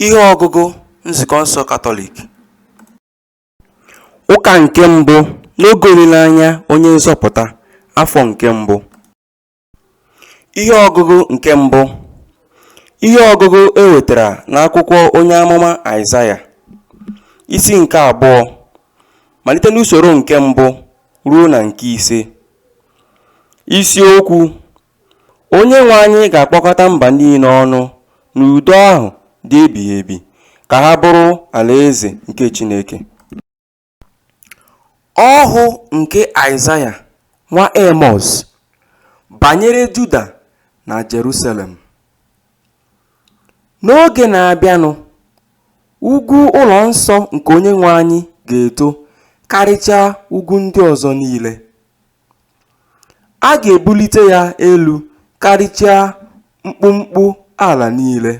Ihe ọgụgụ Nzukọ nsọ Katọlik Ụka nke mbụ n'oge olileanya onye nzọpụta afọ nke mbụ Ihe ọgụgụ nke mbụ Ihe ọgụgụ e wetara n'akwụkwọ onye amụma Aịzaya isi nke abụọ malite n'usoro nke mbụ ruo na nke ise isiokwu Onyenwe anyị ga-akpọkọta mba niile ọnụ n'udo ahụ dị ebighị ebi ka ha bụrụ alaeze nke Chineke. Ọhụ nke Aịzaya nwa Emọz banyere Juda na Jerusalem. N'oge na-abịanụ, ugwu ụlọ nsọ nke Onyenwe anyị ga-eto karịchaa ugwu ndị ọzọ niile. A ga-ebulite ya elu karịchaa mkpumkpu ala niile.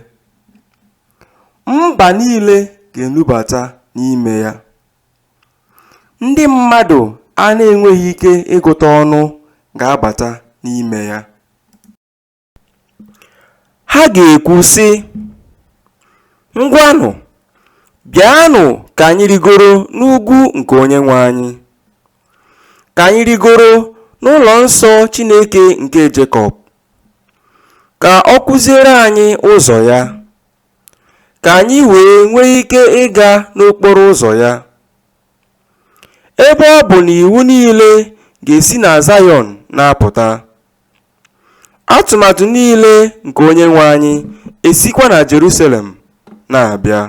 Mba niile ga-enubata n'ime ya. Ndị mmadụ a na-enweghị ike ịgụta ọnụ ga-abata n'ime ya. Ha ga-ekwu, sị, Ngwanụ, bịanụ ka anyị rịgoro n'ugwu nke Onyenwe anyị, ka anyị rịgoro n'ụlọ nsọ Chineke nke Jekọb, ka ọ kụziere anyị ụzọ ya, ka anyị wee nwee ike ịga n'okporo ụzọ ya. Ebe ọ bụ na iwu niile ga-esi na Zayọn na-apụta. Atụmatụ niile nke Onyenwe anyị esikwa na Jerusalem na-abịa.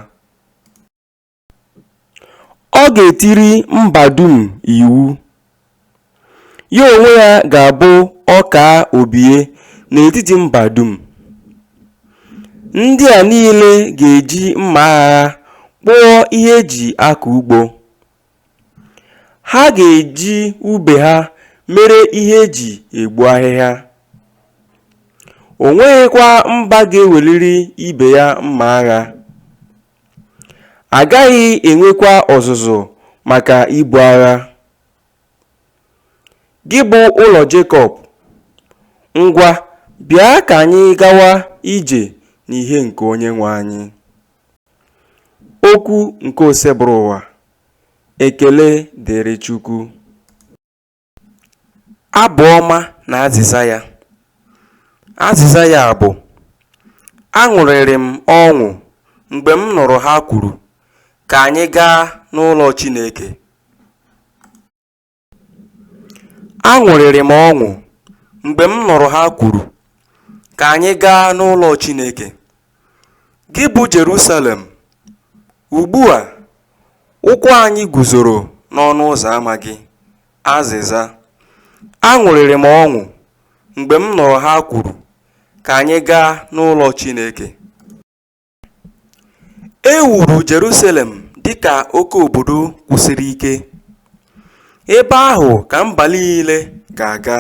Ọ ga-etiri mba dum iwu. Ya onwe ya ga-abụ ọkaa obie n'etiti mba dum. Ndị a niile ga-eji mma agha kpụọ ihe e ji akọ ugbo. Ha ga-eji ube ha mere ihe e ji egbu ahịhịa. O nweghịkwa mba ga-eweliri ibe ya mma agha. A gaghị enwekwa ọzụzụ maka ibu agha. Gị bụ ụlọ Jekọb, ngwa, bịa ka anyị gawa ije n'ihe nke Onyenwe anyị. Okwu nke Osebụrụwa. Ekele dịrị Chukwu. Abụ ọma na azịza ya. Azịza ya bụ aṅụrịrị m ọṅụ mgbe m nụrụ ha kwuru ka anyị gaa n'ụlọ Chineke. Aṅụrịrị m ọṅụ mgbe m nụrụ ha kwuru, Ka anyị gaa n'ụlọ Chineke, gị bụ Jerusalem. Ugbu a, ụkwụ anyị guzoro n'ọnụ ụzọ ama gị. Azịza, Aṅụrịrị m ọṅụ mgbe m nụrụ ha kwuru, Ka anyị gaa n'ụlọ Chineke. E wuru Jerusalem dị ka oke obodo kwụsiri ike, ebe ahụ ka mba niile ga-aga,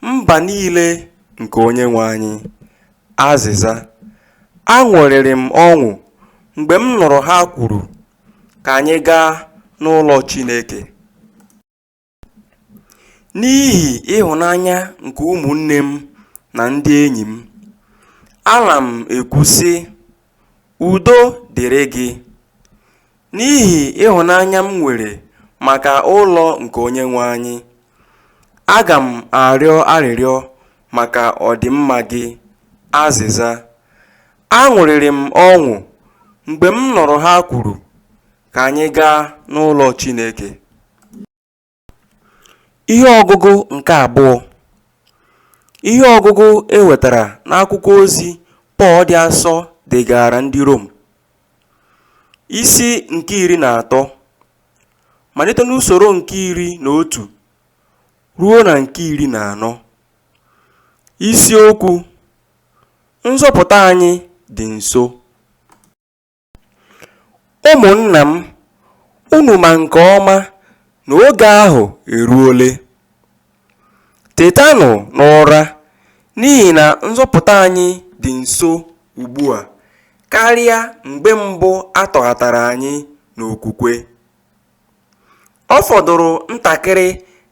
mba niile nke Onyenwe anyị. Azịza, Aṅụrịrị m ọṅụ mgbe m nụrụ ha kwuru, Ka anyị gaa n'ụlọ Chineke. N'ihi ịhụnanya nke ụmụnne m na ndị enyi m, ana m ekwu, sị, Udo dịrị gị. N'ihi ịhụnanya m nwere maka ụlọ nke Onyenwe anyị, aga m arịọ arịrịọ maka ọdịmma gị. Azịza, Aṅụrịrị m ọṅụ mgbe m nụrụ ha kwuru, ka anyị gaa n'ụlọ Chineke. Ihe ọgụgụ nke abụọ Ihe ọgụgụ e wetara n'akwụkwọ ozi Pọl dị asọ degaara ndị Rom isi nke iri na atọ malite n'usoro nke iri na otu ruo na nke iri na anọ isiokwu nzọpụta anyị dị nso Ụmụnna m, unu ma nke ọma na oge ahụ eruole. Tetanụ n'ụra, n'ihi na nzọpụta anyị dị nso ugbu a karịa mgbe mbụ a tọghatara anyị n'okwukwe. Ọ fọdụrụ ntakịrị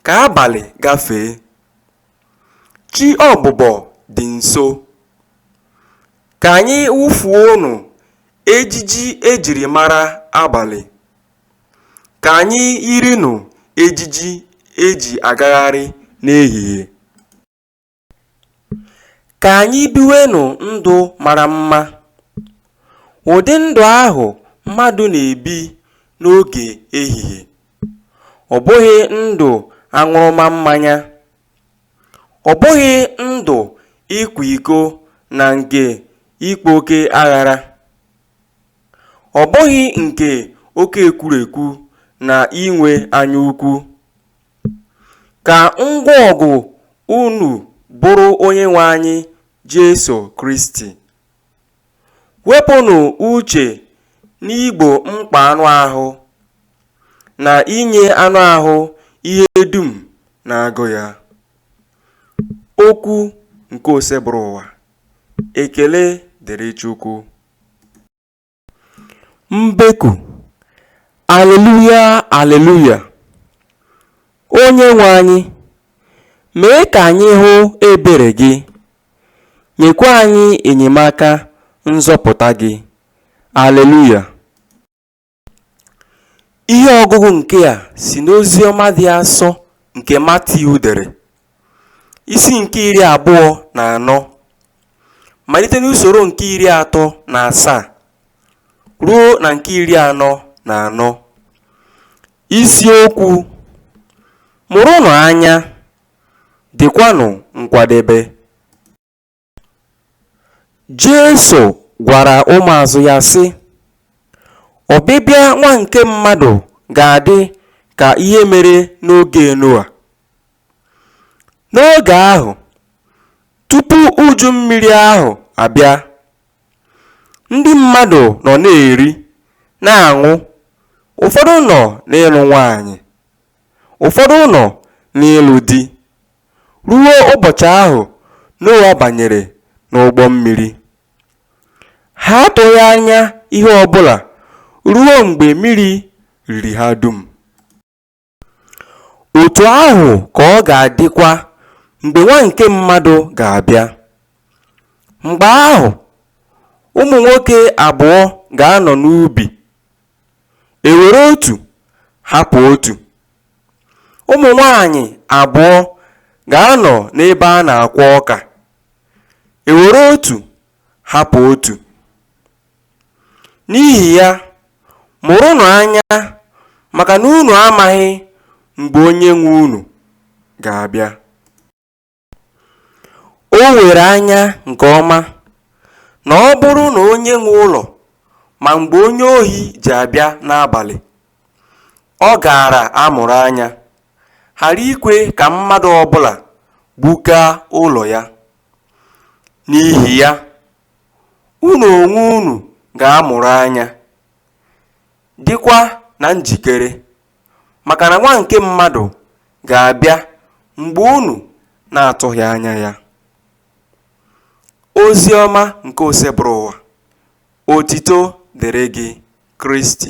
ka abalị gafee. Chi ọbụbọ dị nso. Ka anyị wụfuonụ ejiji e jiri mara abalị, ka anyị yirinụ ejiji e ji agagharị n'ehihie. Ka anyị biwenụ ndụ mara mma, ụdị ndụ ahụ mmadụ na-ebi n'oge ehihie, ọ bụghị ndụ aṅụrụma mmanya. Ọ bụghị ndụ ịkwa iko na nke ịkpa oke aghara, ọ bụghị nke oke ekwurekwu na inwe anya ukwu. Ka ngwa ọgụ unu bụrụ Onyenwe anyị Jesu Kristi. Wepụnụ uche n'igbo mkpa anụ ahụ na inye anụ ahụ ihe dum na-agụ ya. Okwu nke Osebụrụwa. Ekele dịrị Chukwu. Mbeku. Aleluya, aleluya. Onyenwe anyị, mee ka anyị hụ ebere gị. Nyekwa anyị enyemaka nzọpụta gị. Aleluya! Ihe ọgụgụ nke a si n'ozi ọma dị asọ nke Matiu dere, isi nke iri abụọ na anọ, malite n'usoro nke iri atọ na asaa ruo na nke iri anọ na anọ. Isiokwu, Mụrụnụ anya! dịkwanụ nkwadebe. Jesu gwara ụmụazụ ya sị, Ọbịbịa nwa nke mmadụ ga-adị ka ihe mere n'oge Noa. N'oge ahụ, tupu uju mmiri ahụ abịa, ndị mmadụ nọ na-eri, na-aṅụ, ụfọdụ nọ n'ịlụ nwaanyị, Ụfọdụ nọ n'ịlụ di. Ruo ụbọchị ahụ Noa banyere n'ụgbọ mmiri, ha atụghị anya ihe ọ bụla ruo mgbe mmiri riri ha dum. Otu ahụ ka ọ ga-adịkwa mgbe Nwa nke mmadụ ga-abịa. Mgbe ahụ, ụmụ nwoke abụọ ga-anọ n'ubi E were otu hapụ otu, ụmụ nwaanyị abụọ ga-anọ n'ebe a na-akwọ ọka. E were otu hapụ otu. N'ihi ya, mụrụnụ anya maka na unu amaghị mgbe Onyenwe unu ga-abịa. O were anya nke ọma na ọ bụrụ na onye nwe ụlọ ma mgbe onye ohi ji abịa n'abalị, ọ gaara amụrụ anya, ghara ikwe ka mmadụ ọ bụla gbukaa ụlọ ya. N'ihi ya, unu onwe unu ga-amụrụ anya, dịkwa na njikere. maka na nwa nke mmadụ ga-abịa mgbe unu na-atụghị anya ya ozi ọma nke osebụrụwa otito dịrị gị kristi